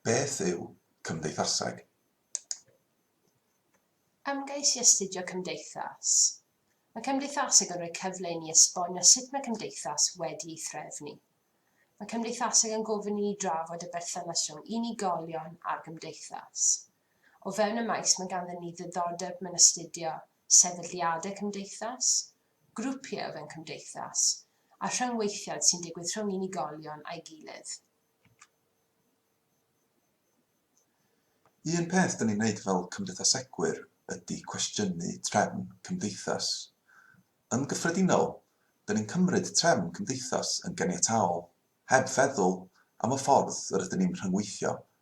Beth yw cymdeithaseg? Ymgais i astudio cymdeithas. Mae cymdeithaseg yn rhoi cyfle i ni esbonio sut mae cymdeithas wedi ei threfnu. Mae cymdeithaseg yn gofyn i ni drafod y berthynas rhwng unigolion a'r gymdeithas. O fewn y maes mae ganddyn ni ddiddordeb mewn astudio sefydliadau cymdeithas, grwpiau fewn cymdeithas, a rhyngweithiad sy'n digwydd rhwng unigolion a'i gilydd. Un peth dyn ni'n wneud fel cymdeithasegwyr ydy cwestiynu trefn cymdeithas. Yn gyffredinol, dyn ni'n cymryd trefn cymdeithas yn ganiataol, heb feddwl am y ffordd yr ydyn ni'n rhyngweithio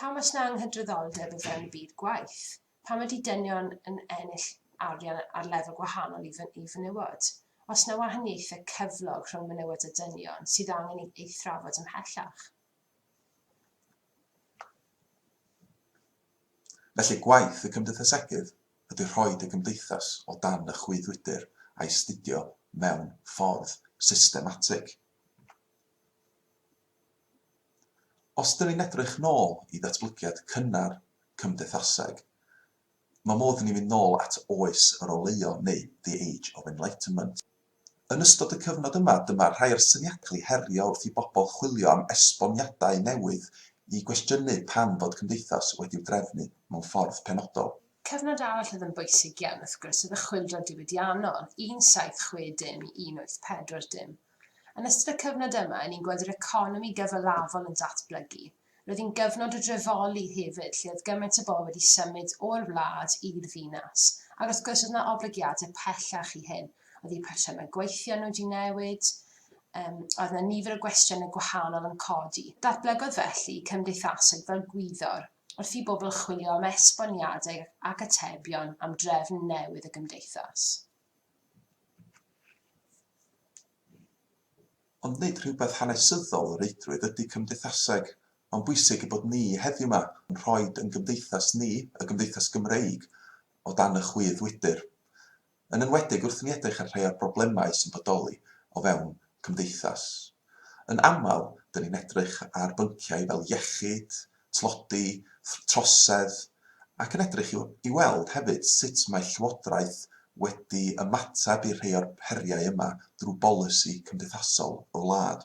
Pam oes 'na anghydraddoldeb o fewn y byd gwaith? Pam ydy dynion yn ennill arian ar lefel gwahanol i i fenywod? Oes 'na wahaniaethau cyflog rhwng menywod a dynion sydd angen ei ei thrafod ymhellach? Felly gwaith y Cymdeithasegydd ydy rhoi dy gymdeithas o dan y chwyddwydr a'i 'studio mewn ffordd systematig. Os ydyn ni'n edrych nôl i ddatblygiad cynnar cymdeithaseg, mae modd i ni fynd nôl at Oes yr Oleuon neu The Age of Enlightenment. Yn ystod y cyfnod yma, dyma rhai o'r syniadau cael eu herio wrth i bobl chwilio am esboniadau newydd i gwestiynu pam fod cymdeithas wedi'w drefnu mewn ffordd penodol. Cyfnod arall oedd yn bwysig iawn, wrth gwrs, oedd y Chwyldro Diwydiannol, 1760 i 1840. Yn ystod y cyfnod yma, ni'n gweld yr economi gyfalafol yn datblygu. Roedd hi'n gyfnod o drefoli hefyd lle oedd gymaint o bobl wedi symud o'r wlad i'r ddinas, ac wrth gwrs oedd 'na oblygiadau pellach i hyn, oedd eu patrymau gweithio nhw wedi newid, um, oedd 'na nifer o gwestiynau gwahanol yn codi. Datblygodd felly cymdeithasoedd fel gwyddor, wrth i bobl chwilio am esboniadau ac atebion am drefn newydd y gymdeithas. Ond nid rhywbeth hanesyddol o reidrwydd ydy cymdeithaseg. Mae'n bwysig ein bod ni heddiw 'ma yn rhoi ein gymdeithas ni, y gymdeithas Gymreig, o dan y chwydd wydr. Yn enwedig wrth i ni edrych ar rhai o'r broblemau sy'n bodoli o fewn cymdeithas. Yn aml, 'dyn ni'n edrych ar bynciau fel iechyd, tlodi, trosedd, ac yn edrych i weld hefyd sut mae Llywodraeth wedi ymateb i rhai o'r heriau yma drwy bolisi cymdeithasol y wlad.